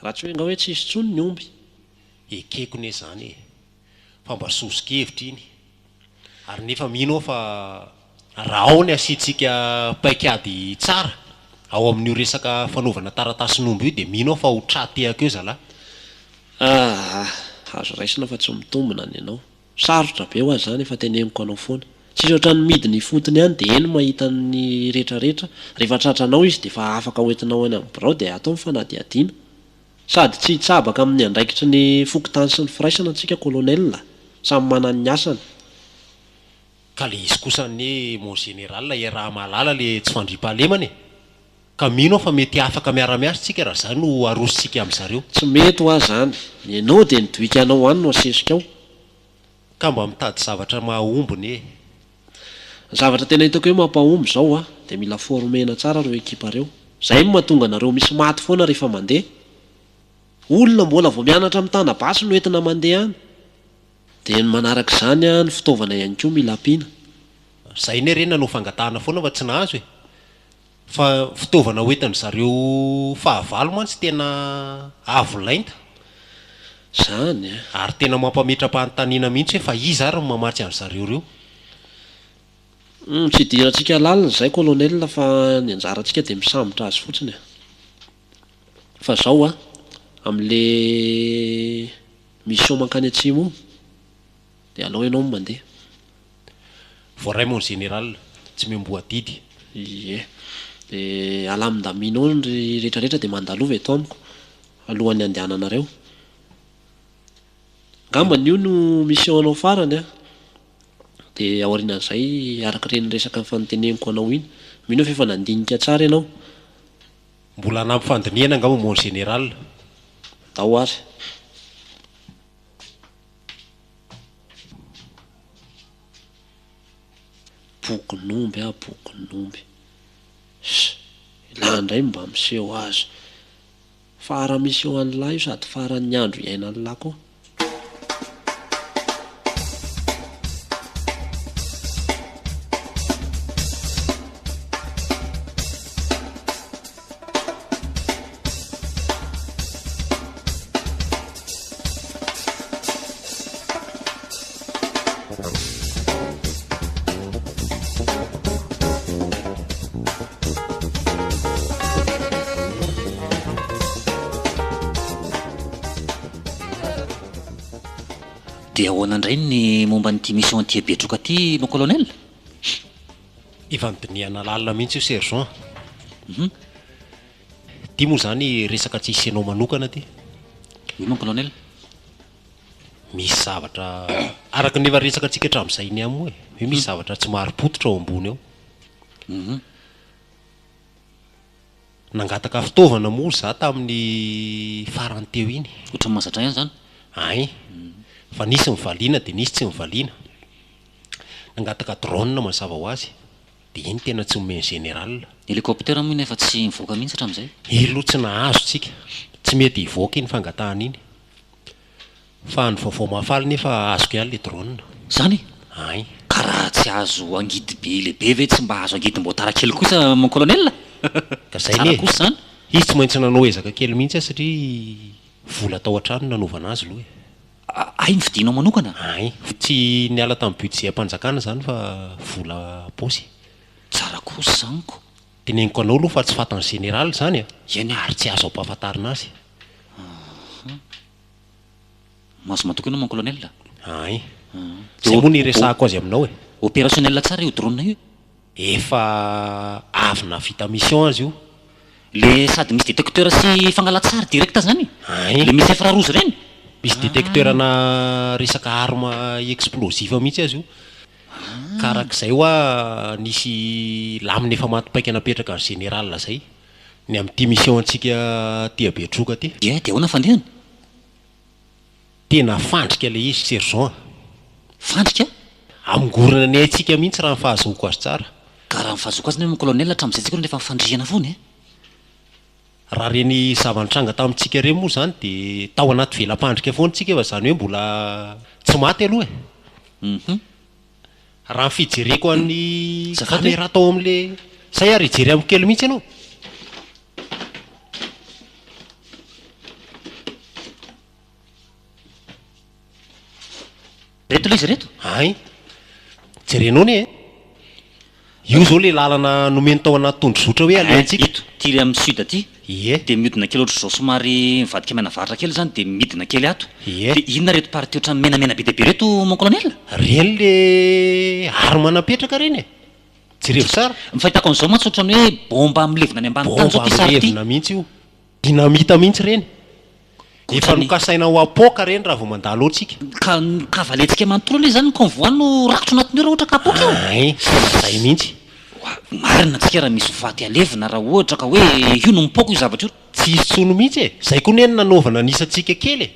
Raha tsy hoe nga hoe tsy hisy intsony ny omby. Ekeko ne zany e. fa mba sosokevitra iny ary nefa mino aho fa raha ao ny asiantsika paik'ady tsara ao amin'io resaka fanaovana taratasin'omby io dia mino aho fa ho tra tehaka eo zalah. Aah, azo raisina fa tsy mitombina ny anao. Sarotra be ho ahy izany, efa teneniko anao foana. Tsisy ohatran'ny midina ifotony ihany dia eny mahita ny retraretra, rehefa tratranao izy dia efa afaka hoentinao any amin'ny birao dia atao ny fanadihadiana. Sady tsy hitsabaka amin'ny andraikitry ny fokontany sy ny firaisana antsika colonel a! Samy manana ny asany. Ka le izy kosa anie mon général e raha mahalala le tsy fandriampahalemana e! Ka mino aho fa mety afaka miara miasa tsika raha zany no arosontsika amizareo. Tsy mety hoa zany. Ianao dia ny doika anao any no asesika ao. Ka mba mitady zavatra mahahomby ny e. Ny zavatra tena hitako hoe mampahomby izao a, dia mila former-na tsara ireo ekipa ireo. Izay no mahatonga anareo misy maty foana rehefa mandeha. Olona mbola vao mianatra mitana basy no entina mandeha any. Dia ny manaraka izany a, ny fitaovana ihany koa mila ampiana. Ry zay ny harena no fangatahana foana fa tsy nahazo e. Fa fitaovana hoentin-dry zareo fahavalo mantsy tena avo lenta. Izany e. Ary tena mampametra-panontaniana mihitsy hoe fa iza ary no mamatsy an-dry zareo ireo? Humm, tsy idirantsika lalina izay Colonel fa ny anjarantsika dia misambotra azy fotsiny e. Fa izao an, amin'ilay mission mankany atsimo io, Dia alao ianao no mandeha. Voaray mon général, tsy miomboha didy. Ie. Dia alamin-daminao ny rehetrarehetra dia mandalova eto amiko alohan'ny handehananareo. Angambany io no mission-nao farany an! Dia aorianan'izay, arak'ireny resaka nifanoteneniko anao iny. Mino aho fa efa nandinika tsara ianao. Mbola hanampy fandinihana angamba mon général. Andao ary. Bokin'omby ah bokin'omby. Ialahy indray no mba miseho azy. Farany miseho an'ilahy io sady faran'ny andro iainan'ilahy koa. Dia ahoana indray ny momba an'ity mission anti-Betroka ity mon colonel? Efa nidinihana lalina mihitsy io sergent a. Hum. Ity moa izany resaka tsy hisy anao manokana ity. Oui mon colonel. Misy zavatra araka ny efa resakantsika hatramin'izay ny amo e. Hoe misy zavatra tsy marim-pototra ao ambony ao. Hum. Nangataka fitaovana moa izaho tamin'ny farany teo iny. Ohatran'ny mahazatra ihany izany. Ay. Fa nisy nivaliana dia nisy tsy nivaliana. Nangataka drone mazava ho azy dia iny tena tsy omeny général. Hélicoptère moa iny efa tsy nivoaka mihitsy hatramizay. Io loha tsy nahazo tsika. Tsy mety hivoaka iny fangatahana iny. Fa any vaovao mahafaly nefa azoko ihany le drone. Zany? Ain. Ka raha tsy azo angidy be le be ve tsy mba azo angidy mbotara kely kosa mon colonel? Ka zay ne, izy tsy maintsy nanao ezaka kely mihitsy an satria vola tao an-trano nanaovana azy loha e. Hay ny vidinao manokana? Hay. Tsy niala tamin'ny budget-mpanjakana izany fa vola am-paosy. Tsara kosa izany nko. Teneniko anao aloha fa tsy fatan'ny général izany e! Eny e! Ary tsy azo ampahafantarina azy. Ahh. Mahazo matoky ianao mon colonel a! Hay. Izay moa no iresahako azy aminao e! Opérationnel tsara io drone io e! Efa avy navita mission aza io. Le sady misy detecteur sy fangalatsary direct zany? Ain. Le misy infra rouge reny? Misy detecteur ana resaka arme explosive mihitsy aza io. Ka arak'izay hoa nisy lamina efa maty paika napetraka ry général zay ny amin'ity mission antsika aty Betroka aty. Dia dia ahoana fandehany? Tena fandrika le izy sergent a! Fandrika? Hamongorana ny aintsika mihintsy raha ny fahazoako azy tsara. Ka raha ny fahazoako azy nefa colonel hatramin'izay tsika no rehefa mifandrihana foana e! Raha ireny zava-nitranga tamintsika ireny moa izany dia tao anaty vela-pandrika foana tsika fa izany hoe mbola tsy maty aloha e! Hum. Raha ny fijereko an'ny camera tao amin'le zay ary hijery amiko kely mihintsy ianao. Ireto ilay izy ireto? Hay. Jerenao anie e. Io izao ilay lalana nomeny tao anaty tondrozotra hoe aleha antsika. Eto, ity ilay amin'ny sud ity. Ie. Dia mihodina kely ohatr'izao somary mivadika mianavaratra kely izany dia midina kely ato. Ie. Dia inona ireto partie ohatran'ny menamena be dia be ireto mon colonel? Ireny ilay arme napetraka ireny e. Jerevo tsara. Ny fahitako an'izao mantsy ohatran'ny hoe bomba milevina any ambany tany izao ity sary ity. Bomba milevina mihitsy io. Dinamita mihintsy ireny. Efa nokasaina ho apoaka ireny raha vao mandalo antsika. Ka ka valentsika manontolo anie izany ny convoi no rakotro anatiny ao raha ohatra ka apoaka io. Ay, izay mihintsy. Oa, marina tsika raha misy ho faty halevina raha ohatra ka hoe io no mipoaka io zavatra io. Tsy hisy tsony mihintsy e. Izay koa anie no nanaovana ny isantsika kely e.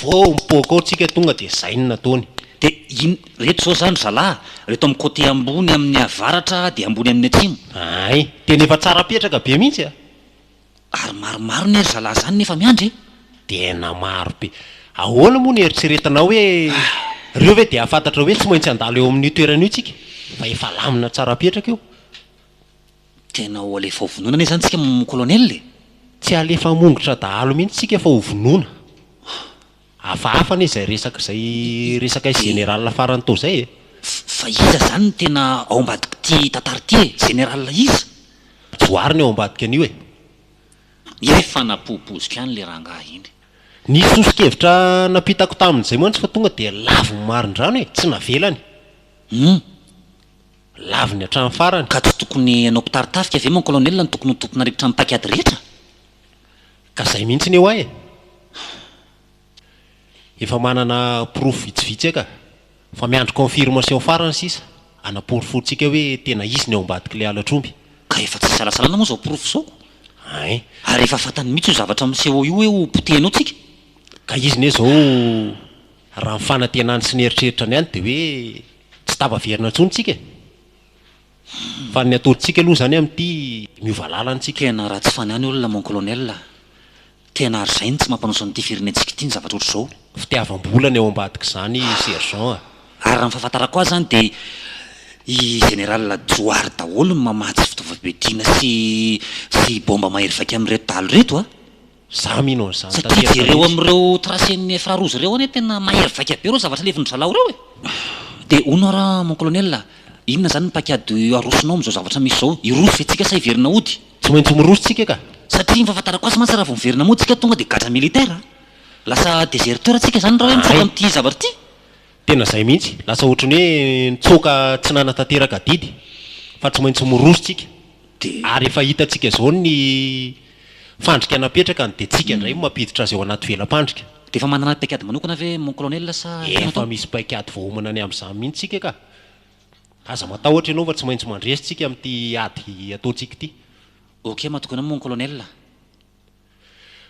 Vao mipoaka ao tsika tonga dia izay no nataony. Dia in, reto izao izany ry zalahy, reto amin'ny côté ambony amin'ny avaratra dia ambony amin'ny atsimo. Ay, tena efa tsara apetraka be mihintsy a. Ary maromaro ne ry zalahy zany nefa miandry e! Tena maro be. Ahoana moa no eritreretanao hoe reo ve dia hafantatra hoe tsy maintsy handalo eo amin'io toerana io tsika fa efa lamina tsara apetraka io? Tena ho alefa ho vonoina anie zany tsika mon colonel e! Tsy halefa hamongotra dahalo mihitsy tsika fa ho vonoina. Hafahafa anie izay resaka izay resakay général farany tao izay e! Fa iza izany no tena ao ambadik'ity tantara ity e? Général iza? Johary no ao ambadika an'io e! Misy fanapohopoziko ihany le rangahy iny. Ny soso-kevitra nampitako tamin'izay mantsy fa tonga dia lavon'ny marindrano e! Tsy navelany. Humm. Lavony hatramin'ny farany. Ka tsy tokony hanao mpitari-tafika ve mon colonel no tokony ho tompon'arivitra amin'ny paik'ady rehetra? Ka zay mihitsy ny oay e! Efa manana porofo vitsivitsy eka, fa miandry confirmation farany sisa hanaporofoantsika hoe tena izy ny ao ambadik'ilay halatr'omby. Ka efa tsy isalasalana moa izao porofo izao ko! Hein! Ary efa fantany mihitsy io zavatra miseho io hoe ho potehina ao tsika! Ka izy ne izao raha ny fanantenany sy ny eritreritrany ihany dia hoe tsy tavaverina intsony tsika e! Fa ny ataontsika aloha zany amin'ity miova lalana tsika. Tena ratsy faniany olona mon colonel a! Tena ary zay no tsy mampanoso an'ity firenentsika ity ny zavatra ohatr'izao. Fitiavam-bola ny ao ambadik'izany sergent a! Ary raha ny fahafantarako azy zany dia i général Johary daholo no mamatsy fitaovam-piadiana sy sy bomba mahery vaika amin'ireto dahalo ireto a! Za mino an'izany Satria tanteraka jereo mihitsy. amin'ireo tracen'i Firarozy ireo anie tena mahery vaika be ireo zavatra levon'ny zalaho ireo e! Dia hono ara mon colonel a! Inona izany ny paik'ady arosonao amin'izao zavatra misy izao? Hiroso ve tsika sa hiverina hody? Tsy maintsy miroso tsika ka! Satria ny fahafantarako azy mantsy raha vao miverina mody tsika tonga dia gadra militaire a! Lasa deserteur tsika izany raha hoe mitsoaka amin'ity zavatra ity! Tena zay mihitsy, lasa ohatry ny hoe nitsoaka tsy nanatanteraka adidy fa tsy maintsy miroso tsika ary efa hitantsika zao ny fandrika napetraka dia tsika indray no mampiditra azy ao anaty vela-pandrika. Dia efa manana paikady manokana ve mon colonel sa tsy manana? Efa misy paikady voaomana ny amin'izany mihitsy tsika ka! Aza matahotra ianao fa tsy maintsy mandresy tsika amin'ity ady ataontsika ity. Ok matoky anao mon colonel.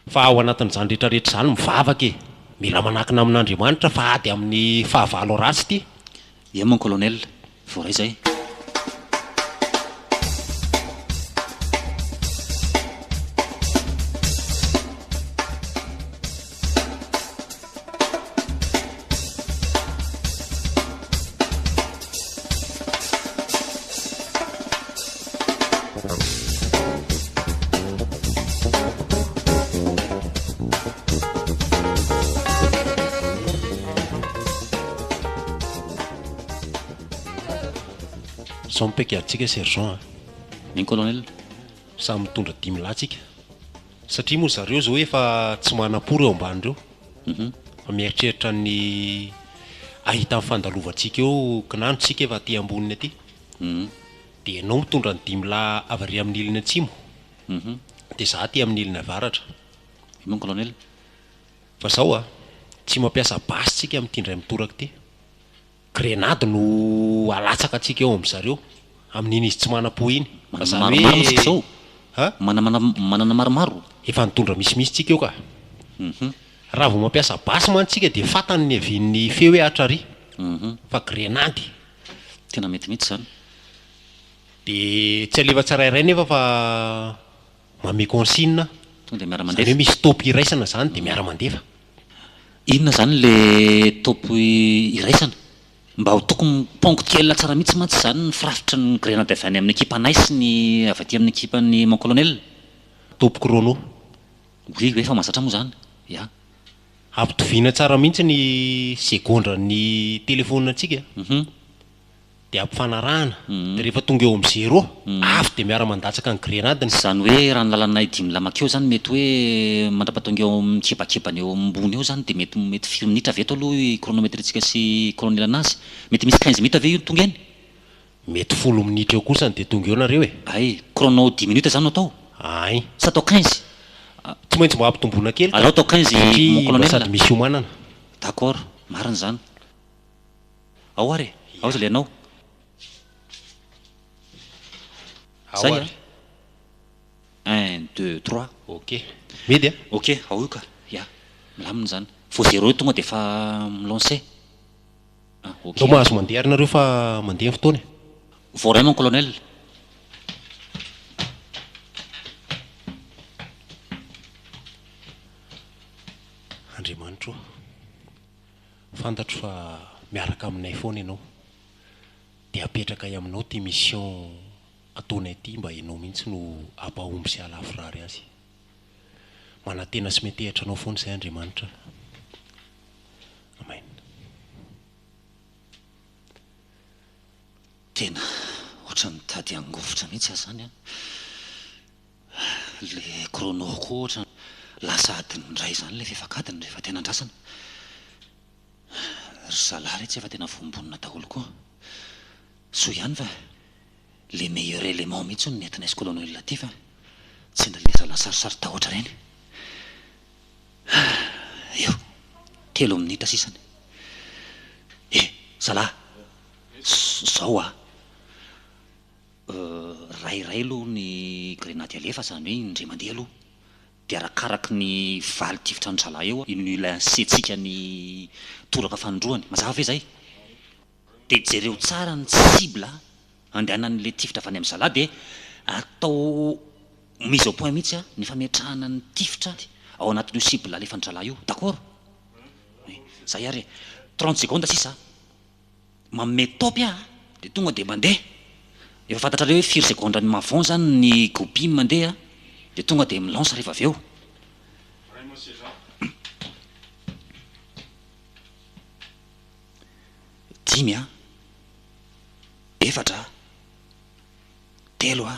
Fa ao anatin'izany rehetra rehetra izany mivavaka e! Mila manakina amin'Andriamanitra fa ady amin'ny fahavalo ratsy ity. Ie mon colonel, voaray zay. Sao mipaiky atsika sergent a. Min colonel. Samy mitondra dimy lahy tsika. Satria moa zareo izao efa tsy manam-po ireo ambany ireo fa mieritreritra ny ahita ny fandalovantsika eo kinano isika efa aty amboniny aty dia ianao mitondra ny dimy lahy avy ary amin'ny ilany atsimo dia za aty amin'ny ilany avaratra. Et non colonel. Fa zao a, tsy mampiasa basy tsika amty ndray mitoraka ty. Grenady no alatsaka antsika eo amin-dry zareo, amin'iny izy tsy manam-po iny. Manana maromaro isika izao. A? Manana, manana maromaro. Efa nitondra misimisy tsika eo ka. Mhm. Raha vao mampiasa basy mantsy tsika dia fantany ny havian'ny feo hoe Atra ary. Mhm. Fa grenady. Tena mety mihitsy izany. Dia tsy alefa tsirairay nefa fa Mamehy consigne Tonga dia miara mandefa. Zany hoe misy top iraisana zany dia miara mandefa. Inona izany le top iraisana? Mba ho tokony ponctuel tsara mihitsy mantsy izany ny firafitry ny grenady avy any amin'ny ekipanay sy ny avy aty amin'ny ekipan'i Mon Colonel. Top chrono. Oui oui efa mahazatra moa izany. Ya. Ampitoviana tsara mihitsy ny segondra ny telephone antsika. Uhum. dia ampifanarahana, dia rehefa tonga eo amin'ny zéro, avy dia miara-mandatsaka ny grenadiny. Izany hoe raha ny lalanay dimy lamaka eo izany mety hoe mandrapatonga eo amin'ny kibakibany eo ambony eo izany dia mety mety firy minitra avy eto aloha i chronometritsika sy i colonel anazy? Mety misy quinze minitra ve io no tonga eny? Mety folo minitra eo kosa no dia tonga eo nareo e! Ay! Chrono dix minutes izany no atao? Ay! Sa atao quinze? Tsy maintsy mba ampitomboina kely ka! Aleo atao quinze mon colonel! Satria mba sady misy iomanana. D'accord! Marina izany. Ao ary e! Ao izy le anao. Zay a! Un, deux, trois. Ok. Midy a! Ok, ao io ka! Ya! Milamina izany. Vao zéro eo tonga dia efa mi-lancer. Ah, ok. Ndao mahazo mandeha ary nareo fa mandeha ny fotoana e! Vao iray mon colonel. Andriamanitra o! Fantatro fa miaraka aminay foana ianao. Dia apetrakay aminao ity mission ataonay ity mba ianao mihitsy no hampahomby sy hahalavorary azy. Manantena sy metehatra anao foana izay Andriamanitra. Amen. Tena ohatran'ny mitady hangovitra mihitsy aho izany an! Ilay chrono koa ohatra lasa adiny iray izany ilay fefak'adiny rehefa tena andrasana. Ry zalahy re tsy efa tena voambonina daholo koa. Soa ihany fa le meilleur élément mihitsy hono nentinay sy colonel Latif a! Tsy nila letra la sarisarin-tahotra ireny. Eo, telo minitra sisa ny. Eh! Zalahy! Zao a! Iray iray aloha ny grenady alefa izany hoe indray mandeha aloha dia arakaraky ny valy tifitra ny zalahy eo iny ilay hasiantsika ny toraka fanindroany mazava ve izay? dia jereo tsara ny cible andehanan'ilay tifitra avy any amin'ny zalahy dia atao mise au point mihitsy ny fametrahana ny tifitra ao anatin'io cible alefan'ny zalahy io d'accord? oui, zay ary e, trente secondes sisa a! manome top aho dia tonga dia mandeha, efa fantatrareo hoe firy segondra ny mavon zany ny goupy mandeha dia tonga dia mi lance rehefa avy eo. Dimy a, efatra a, telo a,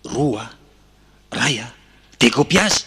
roa a, ray a, decopiage.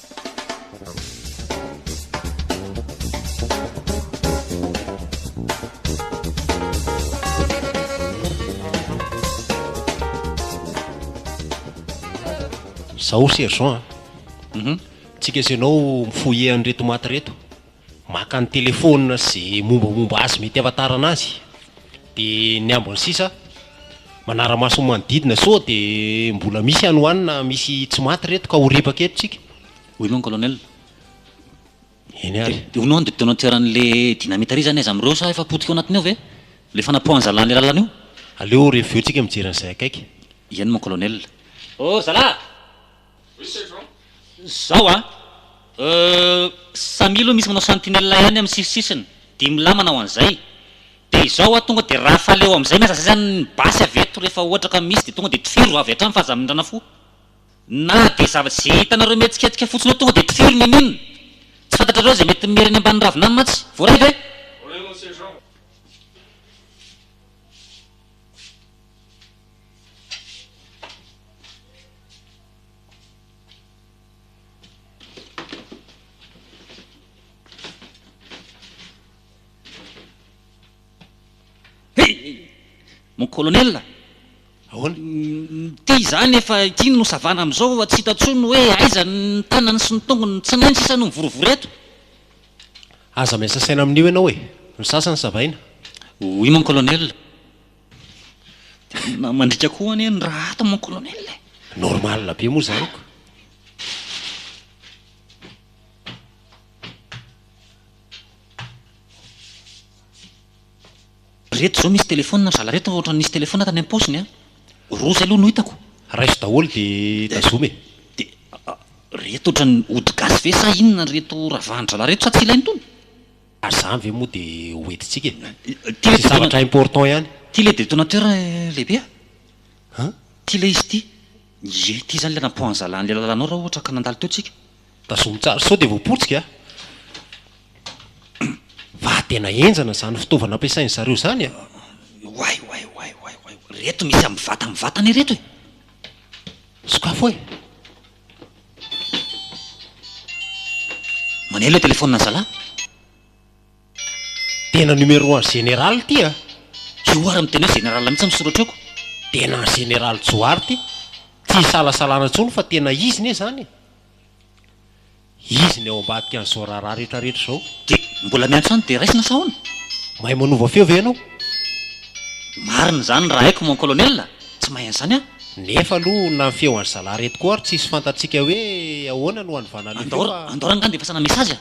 Zao Sergent a, tsika sy ianao mi-fouiller an'ireto maty ireto. maka ny telephone sy ze mombamomba azy mety ahafantarana azy de ny ambiny sisa manaramaso ny manodidina sao de mbola misy any ho any na misy tsy maty reto ka ho ripaka eto tsika. Oui mon colonel. Eny ary. De hono an de detonateur anle dynamite ary zany aiza amreo sa efa potika ao anatiny ao ve le fanapoahanzala anle lalana io? Aleo reveo tsika mijery anzay akaiky. Eny mon colonel. Oh zalah! Zao a! Euh, samia aloha misy manao sentinelle ihany amin'ny sisisisiny, dimy lahy manao an'izay, dia izao a, tonga dia rafale eo amin'izay miasa izay izany ny basy avy eto rehefa ohatra ka misy dia tonga dia tifiro avy hatrany fa aza mindrana fo, na dia zavatra izay hitanareo mihetsiketsika fotsiny eo tonga dia tifiro ny mine, tsy fantatrareo izay mety miera eny ambany ravina any mantsy, voaray ve? Voaray mon sergent. Mon colonel, ahoana? Ity izany efa ity no savana amin'izao fa tsy hita intsony hoe aiza ny tanany sy ny tongony, tsy nainy sisa no mivorovoro eto. Aza miasa saina amin'io ianao e! Ny sasany savaina. Oui mon colonel. Tena mandriaka koa anie ny rahata mon colonel e! Normal be moa izany ko! Reto izao misy téléphone ry zala reto fa ohatran'ny nisy téléphone tany am-paosiny an! Roa izay aloha no hitako! Raiso daholo dia tazomy e! Dia reto ohatran'ny ody gasy ve sa inona reto ravan'ny zala reto sa tsy ilaina itony? Ary zany ve moa dia ho entintsika e? Tsy zavatra important ihany. Ty le de donateur lehibe a! An? Ty le izy ty! Ie, ty zany le nampoanzala an'le lalanao raha ohatra ka nandalo teo tsika! Tazomy tsara sao dia voapotsika a! Fa tena henjana zany fitaovana ampiasain'ny zareo zany e! Oay oay oay oay oay! Reto misy amin'ny vata mivantana ireto e! Sokafo e! Maneno le telephone ny zalah. Tena numéro an'i général ty a! Johary ary miteny hoe général mihitsy ny soratra eo ko! Tena an'i général Johary ty! Tsy isalasalana intsony fa tena izy ne zany e! Izy ny ao ambadika an'izao raharaha rehetra rehetra izao. Dia mbola miantso any dia raisina sa ahoana? Mahay manova feo ve ianao? Marina izany raha haiko mon colonel a! Tsy mahay an'izany aho. Nefa aloha na ny feo an'i zalahy ireto koa ary tsisy fantatsika hoe ahoana no hanovana an'io feo fa. Andao rangahy dia fasana message a!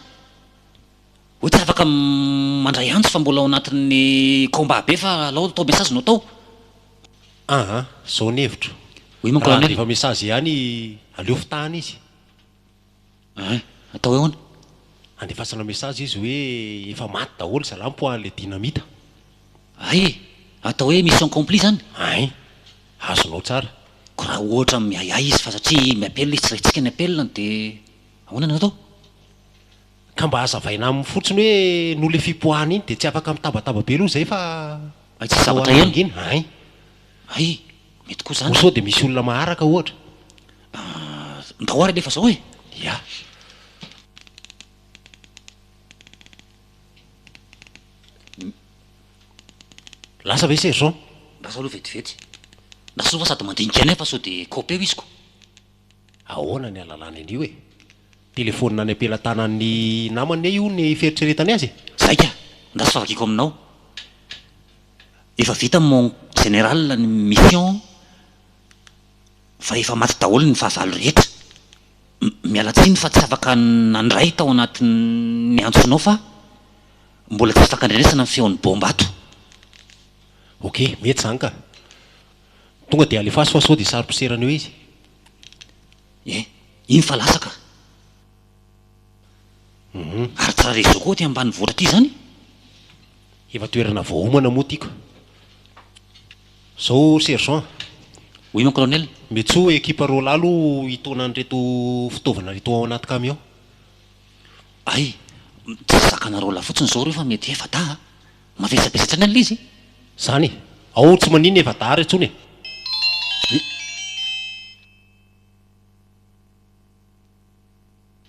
Hoe tsy afaka mandray antso fa mbola ao anatin'ny combat be fa alao atao message no atao. Aha, izao ny hevitro. Oui mon colonel. Raha handefa message ihany aleo fitahana izy. Hein! Atao hoe ahoana? Andefasanao message izy hoe efa maty daholo zalah mpoaha le dynamite. Hay e! Atao hoe mission complie zany? Hein! Azonao tsara. Ko raha ohatra miahiahy izy fa satria mi-appel izy tsy raintsika ny appel-ny de ahoana no atao? Ka mba azavaina aminy fotsiny hoe noho le fipoahana iny de tsy afaka mitabataba be aloha zay fa Hay tsisy zavatra heno. Hein! Hay! Mety koa zany. Ho sao dia misy olona maharaka ohatra. Ahh, ndao ary alefa zao e! Ya. Lasa ve sergent? Lasa aloha vetivety. Lasa aloha fa sady mandinika anay fa sao dia kaopeo izy ko. Ahoana ny alalany an'io e? Telefonina any am-pelatanan'ny namany anie io ny fieritreretany azy e! Zaika, ndasy fa vakiako aminao. Efa vita mon général ny mission fa efa maty daholo ny fahavalo rehetra. Miala tsiny fa tsy afaka nandray tao anatin'ny antsonao fa mbola tsy ifankandrenesana ny feon'ny bomba ato. Ok, mety izany ka. Tonga dia alefaso fa sao dia saro-poserana eo izy. Eh! Iny fa lasa ka! Ary tsy raha reseau koa aty ambanivohitra aty izany? Efa toerana voaomana moa ity ka! Zao sergent! Oui mon colonel! Metso ekipa Rola aloha hitaona an'ireto fitaovana ireto ao anaty camion! Ay! Tsy zakana Rola fotsiny izao ireo fa mety efa dahy a! Mavesabesa hatrany ilay izy! Zany e! Ao tsy maninona efa dahy ary intsony e!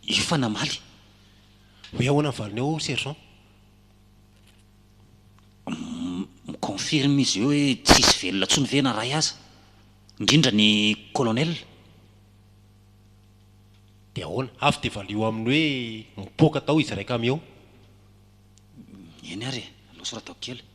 Efa namaly. Hoe ahoana ny valiny ao sergent? Mi-confirme izy eo hoe tsy hisy velona intsony ve na ray aza? Indrindra ny colonel. Dia ahoana? Avy dia valio aminy hoe mipoaka tao izy iraika miao. Eny ary e, aloha soratako kely.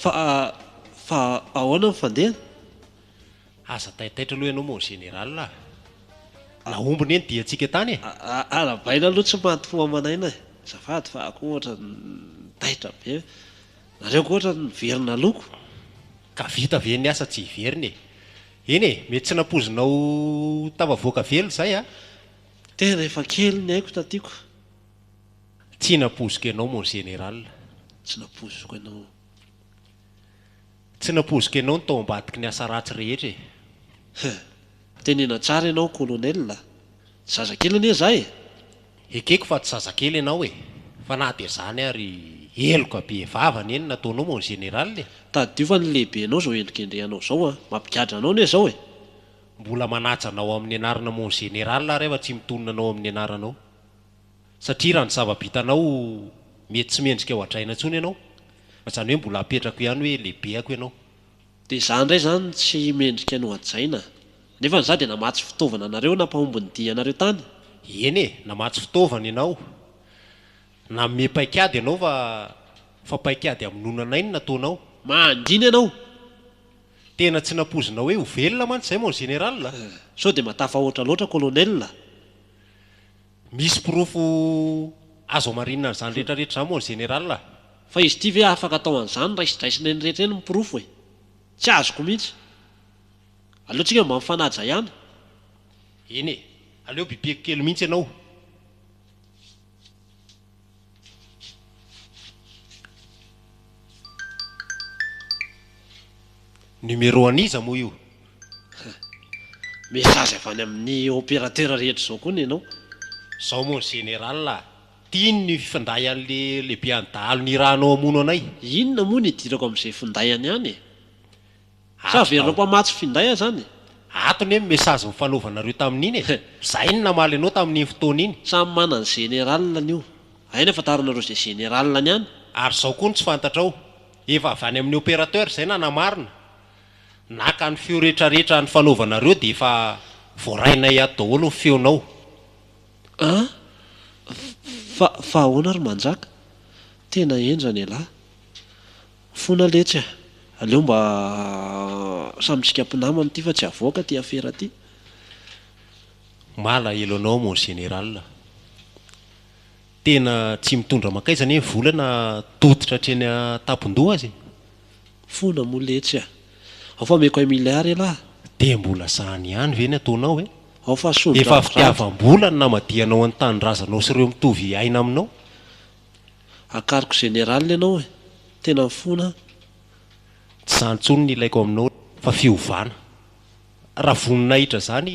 Fa fa ahoana ny fandeha? Aza taitaitra aloha ianao mon général a! Nahomby ne ny diantsika tany e! Arahabaina aloha tsy maty fo aman'aina e! Azafady fa akoa ohatrany taitra be. Nareo ko otrany miverina loko. Ka vita ve ny asa tsy hiverina e. Eny e, mety tsy nampoizinao tafavoaka velona izay a. Tena efa kely ny aiko taty ko. Tsy nampoiziko ianao mon général. Tsy nampoiziko ianao. Tsy nampoiziko ianao no tao ambadiky ny asa ratsy rehetra e. Hum. Tenena tsara ianao colonel a. Zazakely anie za e. Ekeko fa tsy zazakely ianao e! Fa na dia izany ary heloka be vava anie ny nataonao mon général e! Tadiova ny lehibenao izao hendrikendrehanao izao an! Mampigadra anao anie izao e! Mbola manaja anao amin'ny anarana mon général aho refa tsy mitonona anao amin'ny anaranao. Satria raha ny zava-bitanao mety tsy mendrika ho hadraina intsony ianao, izany hoe mbola apetrako ihany hoe lehibehako ianao. Dia za ndray zany tsy mendrika ny ho hajaina a! Nefa ny za dia namatsy fitaovana anareo nampahomby ny dia anareo tany. Eny e, namatsy fitaovana ianao, nanome paikady ianao fa fa paikady hamonoana anay no nataonao. Mangina ianao! Tena tsy nampoizinao hoe ho velona mantsy zay mon général a! Sao dia matafahoatra loatra colonel a! Misy porofo azo hamarinina an'izany rehetra rehetra izany moa ny Général a? Fa izy ity ve afaka atao an'izany raisindraisina eny rehetra eny ny porofo e? Tsy azoko mihitsy. Aleo tsika mba mifanaja ihany. Eny e! Aleo bibeko kely mihitsy ianao. Numéro an'iza moa io? Message avy any amin'ny opérateur rehetra izao koa ny anao. Zao moa ny général a! Tiany ny finday an'le lehibean'ny dahalo nirahanao hamono anay. Inona moa no idirako amin'izay finday any any e? Sa averina ho mpamatsy finday aho zany e! Ato ne ny message nifanaovanareo tamin'iny e! Zay no namaly anao tamin'iny fotoana iny. Samy mana ny général-ny io. Hay ny afantaranareo izay général-ny any. Ary zao koa no tsy fantatrao. Efa avy any amin'ny opérateur izay nanamarina. Naka ny feo retraretra nifanaovanareo dia efa voarainay ato daholo ny feonao. An! Fa fa ahoana ry manjaka? Tena henjana elah. Fona letsy a! Aleo mba samy tsika mpinamana ity fa tsy avoaka ity afera ity. Malahelo anao mon général a! Tena tsy mitondra mankaiza anie ny vola na tototra hatreny an-tampon-doha aza e! Fona moa letsy a! Ao fa omeko un milliard elah! Dia mbola zany ihany ve ny ataonao e! Ao fa asolo Efa fitiavam-bola no namadihanao ny tanindrazanao sy ireo mitovy aina aminao. Akariko général ianao e! Tena mifona an! Tsy zany tsony ny ilaiko aminao fa fiovana. Raha voninahitra izany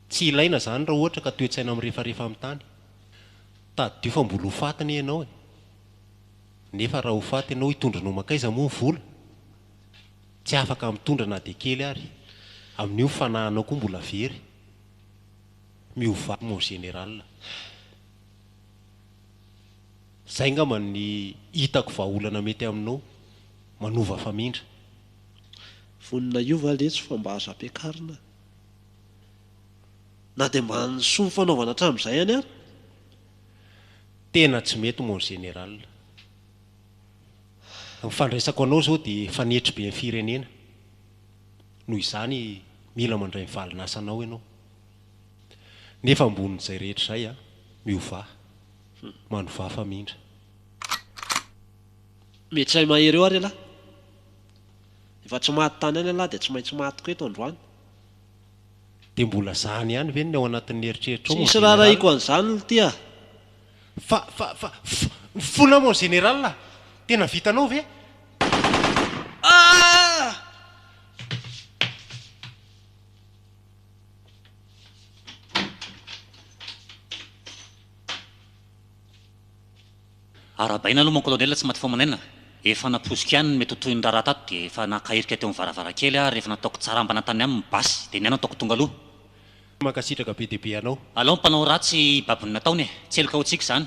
tsy ilaina zany raha ohatra ka toetsaina mirefarefa amin'ny tany. Tadidio fa mbola ho faty anie ianao e! Nefa raha ho faty ianao hitondranao mankaiza moa ny vola? Tsy afaka mitondra na dia kely ary. Amin'io ny fanahinao koa mbola very. Miovà mon général. Zay ngamba ny hitako vahaolana mety aminao manova famindra. Vonona hiova letsy fa mba azo ampiakarina na dia mba ny soa fanaovana hatramin'izay any ary. Tena tsy mety mon général. Ny fandraisako anao zao dia fanetry be ny firenena. Noho izany mila mandray ny valin'asanao ianao. Nefa ambonin'izay rehetra izay a, miovaha, manovaha famindra. Mety hay mahery eo ary ialahy. Efa tsy maty tany any ialahy dia tsy maintsy maty koa eto androany. Dia mbola zany ihany ve ny ao anatin'ny eritreritrao mon Tsisy raharahiako an'izany lty a! Fa, fa, fa, fa, ny fonao mon Général a! Tena vitanao ve? Ah! Arahabaina aloha mon colonel tsy maty fo aman'aina, efa napoiziko ihany ny mety ho tohin'ny raharaha tato dia efa naka irika teo amin'ny varavarankely aho ary efa nataoko tsarambana tany aminy basy dia ny ahy no ataoko tonga aloha. Mankasitraka be dia be anao. Alao ny mpanao ratsy hibaby ny nataony e! Tsy heloka ho tsiky izany.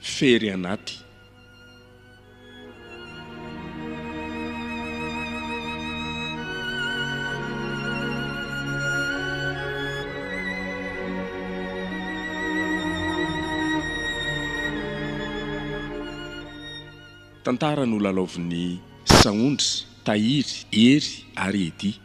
fery anaty. Tantara nolalaovin'ny Saondry, Tahiry, Hery ary Eddy.